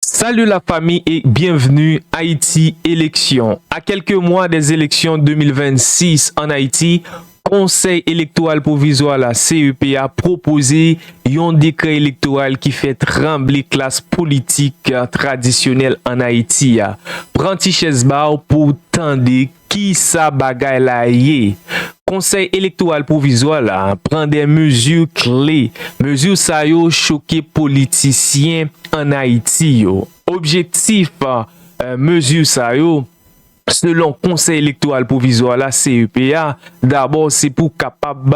Salut la famille et bienvenue Haïti élection A kelke mwa de eleksyon 2026 an Ayiti, Konsèy Elektoral Pwovizwa la, CEP, a pwopoze yon dekrè elektoral ki fè tranble klas politik tradisyonèl an Ayiti a. Pran ti chèz ba w pou w tande Ki sa bagay la ye? Konsèy Elektoral Pwovizwa la pran 2 mezi kle. Mezi sa yo choke politisyen ann Ayiti yo. Objektif mezi sa yo, selon Konsèy Elektoral Pwovizwa la, CEP, a, dabò se pou kapab.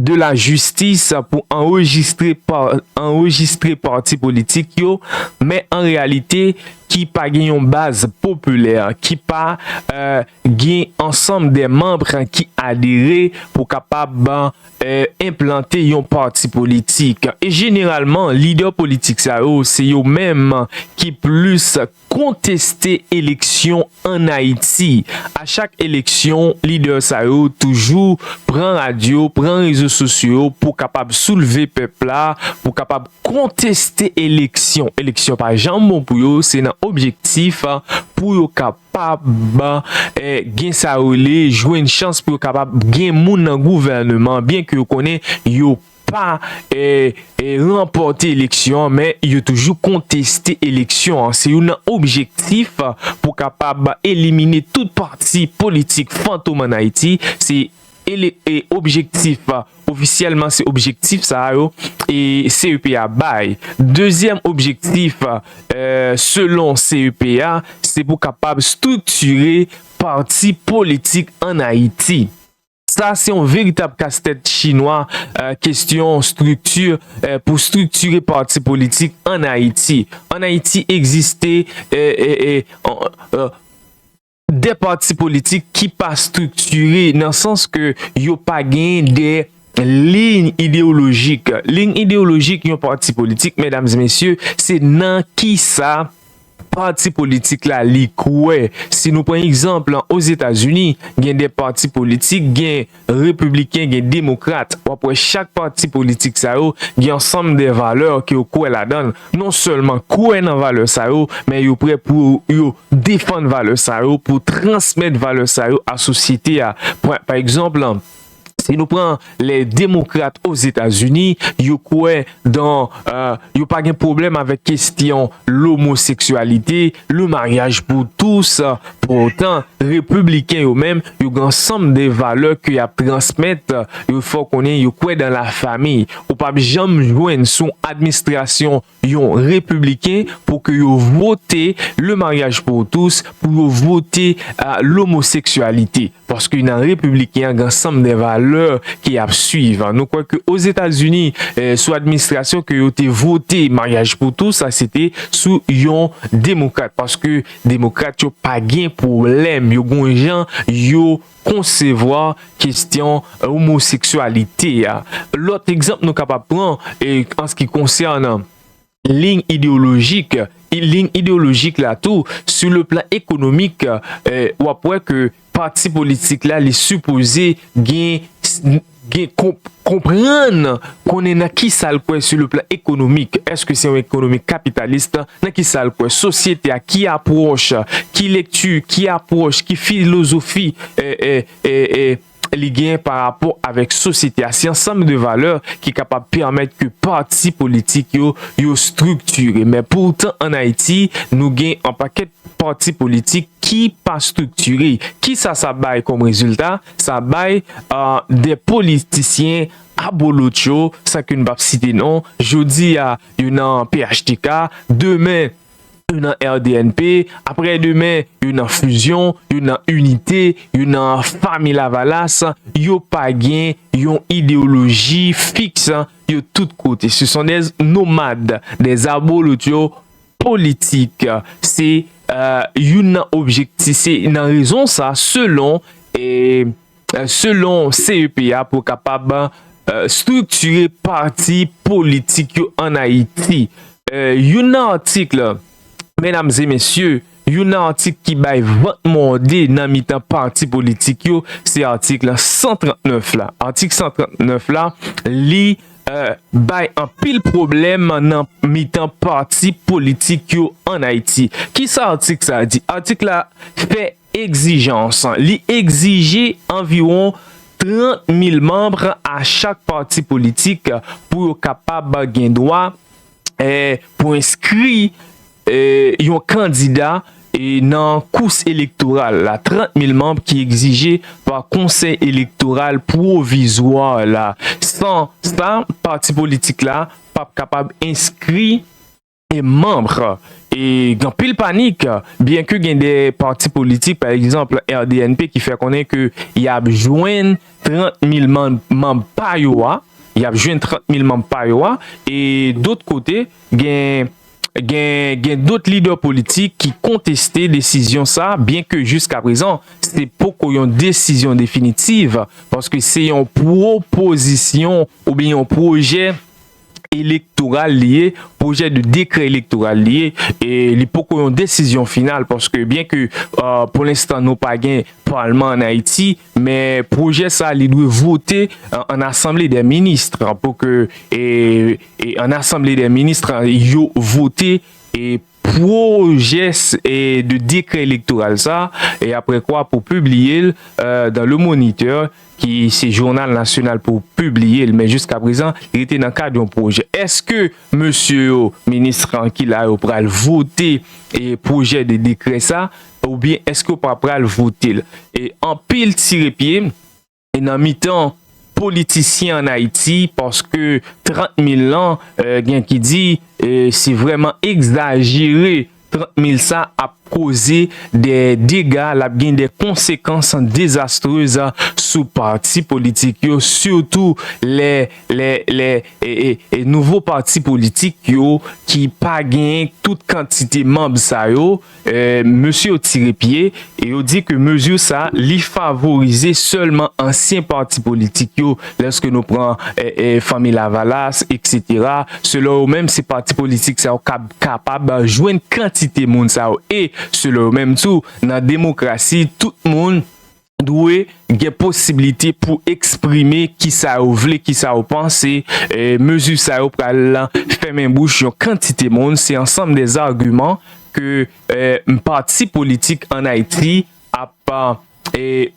de la jistis pou anrejistre pati politik yo, men an reyalite ki pa gen yon baz popilè, ki pa gen ansanm de manb ki adere pou kapab enplante yon pati politik. E jeneralman lidè politik sa yo se yo menm ki plis Konteste eleksyon an Ayiti. A chak eleksyon, lidè sa yo toujou pran radyo, pran rezo sosyo yo pou kapab soulve pèp la, pou kapab konteste eleksyon. Eleksyon pa janm bon pou yo, se nan objektif pou yo kapab gen sa yo rele jwenn chans pou yo kapab gen moun nan gouvèneman byenke yo konnen yo pa ranpòte eleksyon an men yo toujou konteste eleksyon an se youn nan objektif pou kapab elimine tout pati politik fantom an Ayiti se objektif ofisyèlman se objektif sa yo CEP a bay dezyèm objektif selon CEP a se pou kapab striktire pati politik an Ayiti. Sa se yon veritab kas tèt chinwa kestyon strikti pou striktire pati politik an Ayiti. An Ayiti egziste 2 pati politik ki pa striktire nan sans ke yo pa gen 2 liy ideolojik. Liy ideolojik yon pati politik medam e mesye se nan kisa Pati politik la li kwè. Si nou pran egzanp Ozetazini, gen 2 pati politik, gen repibliken, gen demokrat. W ap wè chak pati politik sa yo gen ansanm de valè ke yo kwè ladan l. Non sèlman kwè nan valè sa yo, men yo prè pou yo defann valè sa yo, pou transmèt valè sa yo a sosyete a. Pran pa egzanp, Si nou pran lè demokrat o Zetazini, yo kwè dan, yo pa gen pwoblèm avèk kestyon lomoseksyalite, le mariage pour tous. Pou otan, repibliken yo menm, yo gen ansanm de valè ke y ap transmèt, yo fè w konnen yo kwè dan la famiy. Ou p ap janm jwenn sou yon adminstrasyon yon repibliken pou ke yo vote le mariage pour tous pou yo vote lomoseksyalite paske nan repibliken an gen ansanm de valè ke yap swiv nou kwè ke ozetazini sou administrasyon ke yo te vote mariage pour tous sa se te sou yon demokrat paske demokrat yo pa gen pwoblèm yo gon jan yo konsevwa kestyon omoseksyalite a. Lòt egzanp nou kapab pran anski konsènan liy ideyolojik, liy ideyolojik la tou sou le plan ekonomik, w ap wè ke pati politik la li sipoze gen. gen konp konprann konnen nan kisa l kwè su le plan ekonomik, èske se yon ekonomi kapitalist, nan kisa l kwè sosyete a, ki apwòch, ki lekti, ki apwòch, ki filozofi li gen pa rapò avèk sosyete a. Se ansanm de valè ki kapab pèmèt ke pati politik yo, yo striktire. Men poutan ann Ayiti, nou gen anpakèt pati politik ki pa striktire. Kisa sa bay kòm rezilta? Sa bay 2 politisyen abolotcho, san ke n pap site non, jodi a yo nan phtk, demen yo nan rnp, aprè demen yo nan Fusion, yo nan Unite, yo nan Fanmi Lavalas, yo pa gen yon ideyoloji fiks, yo tout kote. Se son des nomades, des abolotcho politik. Se youn nan objekti, se nan rezon sa selon selon CEP a pou kapab striktire pati politik yo an Ayiti. Youn nan atik medam e mesye, youn nan atik ki bay vant mòde nan mitan pati politik yo se atik 139 la. Atik 139 la li bay anpil pwoblèm nan mitan pati politik yo ann Ayiti. Ki sa atik sa a di? Atik la fè egzijans. Li egzije anviwon 30 mil manm a chak pati politik pou yo kapab gen dwa pou enskri yon kandida nan kous elektoral la 30 mil manb ki egzije pa konsèy elektoral pwovizwa la san sa pati politik la pap kapab enskri manb e gen anpil panik byenke gen de pati politik pa egzanp rdnp ki fè konnen ke yap jwenn. 30 mil manb pa yo a yap jwenn 30 mil manb pa yo a e dot kote gen gen gen dot lidè politik ki konteste desizyon sa byen ke jiska prezan se poko yon desizyon definitiv paske se yon pwopozisyon oubyen yon pwojè elektoral li ye, pwojè de dekrè elektoral li ye, e li poko yon desizyon final paske byen ke pou lenstan nou pa gen palman an Ayiti, men pwojè sa li dwe vote an asanble dè minis pou ke an asanble dè minis yo vote. pwojes de dekrè elektoral sa e apre kwa pou pibliye l dan Le Moniteur ki se jounal nasyonal pou pibliye l men jiska prezan li rete nan kad yon pwojè. Eske mesye yo, minis kan ki la yo pral vote pwojè de dekrè sa oubyen eske yo pa pral vote l? Anpil tire pye. e nan mitan politisyen an Ayiti paske 30 mil lan gen ki di se vrèman egzajere 30 mil sa ap koze de dega l ap gen de konsekans dezastrez sou pati politik yo sitou lè lè e nouvo pati politik yo ki pa gen tout kantite manb sa yo Mesye yo tire pye e yo di ke mezi sa li favorize sèlman ansyen pati politik yo lèske nou pran Fanmi Lavalas etc. Selon yo menm se pati politik sa yo kab kapab jwenn kantite moun sa yo e selon yo menm tou nan demokrasi tout moun dwe gen posiblite pou eksprime ki sa yo vle, ki sa yo panse. Mezi sa yo pral fèmen bouch yon kantite moun. Se ansanm de zagiman ke pati politik an Ayiti ap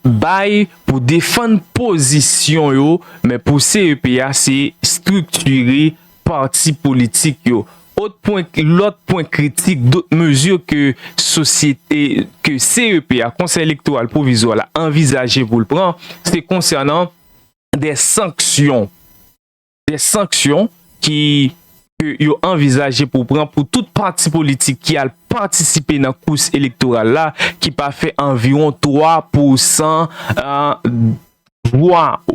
bay pou defann pozisyon yo. Men pou CEPEA, se striktire pati politik yo. Ot pwen lòt pwen kritik dot mezi ke sosyete ke CEP a, Konsèy Elektoral Pwovizwa la, anvizaje pou l pran, se konsènan de sanksyon, de sanksyon ki ke yo anvizaje pou pran pou tout pati politik ki al patisipe nan kous elektoral la ki pa fè anviwon 3 pousan 2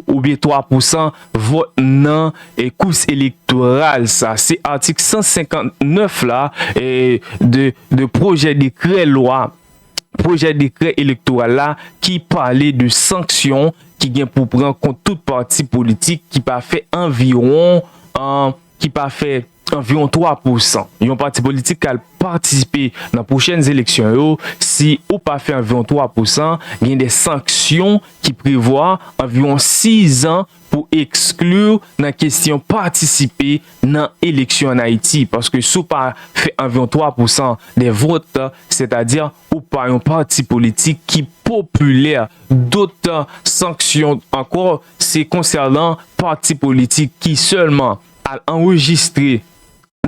oubyen 3 pousan vòt nan kous elektoral sa. Se atik 159 la de pwojè dekrè lwa, pwojè dekrè elektoral la ki pale de sanksyon ki gen pou pran kont tout pati politik ki pa fè anviwon. ki pa fè anviwon 3 pou san yon pati politik ka al patisipe nan pwochèn eleksyon yo, si ou pa fè anviwon 3 pou san, gen de sanksyon ki prevwa anviwon 6 an pou ekskli w nan kesyon patisipe nan eleksyon an Ayiti, paske si w pa fè anviwon 3 pou san de vòt, sètadi Ou pa yon pati politik ki popilè dotan sanksyon ankò se konsènan pati politik ki sèlman al anrejistre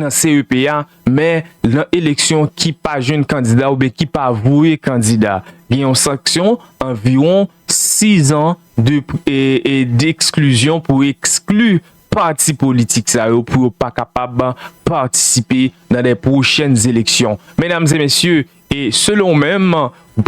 nan CEP a men nan eleksyon ki pa jwenn kandida oubyen ki pa voye kandida gen yon sanksyon anviwon 6 an de eksklizyon pou ekskli pati politik sa yo pou yo pa kapab patisipe nan de pwochèn eleksyon. Medam e mesye, e selon ou menm,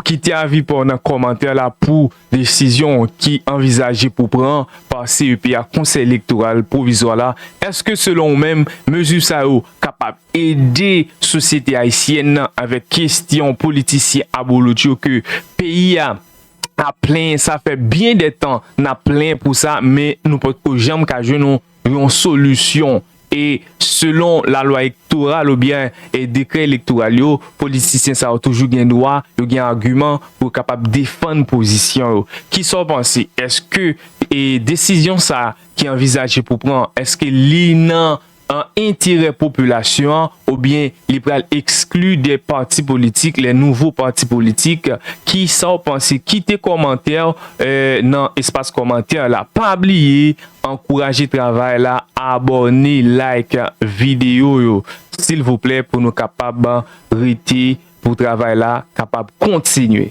kite avi pa w nan kòmantè la pou desizyon ki anvizaje pou pran pa CEP a, Konsèy Elektoral Pwovizwa la. Eske selon ou menm, mezi sa yo kapab ede sosyete ayisyèn nan avèk kestyon politisyen abolotcho ke peyi a ap plenyen sa fè byen de tan nap plenyen pou sa men nou potko janm ka jwenn yon solisyon e selon la lwa ektoral ou byen e dekrè elektoral yo politisyen sa yo toujou gen dwa yo gen agiman pou yo kapab defann pozisyon yo kisa ou panse eske e desizyon sa ki anvizaje pou pran eske li nan an enterè popilasyon an oubyen li pral ekskli de pati politik le nouvo pati politik kisaw panse kite komantèw nan espas komantè la pa bliye ankouraje travay la abòne like video yo silvouplè pou nou kapab rete pou travay la kapab kontinye.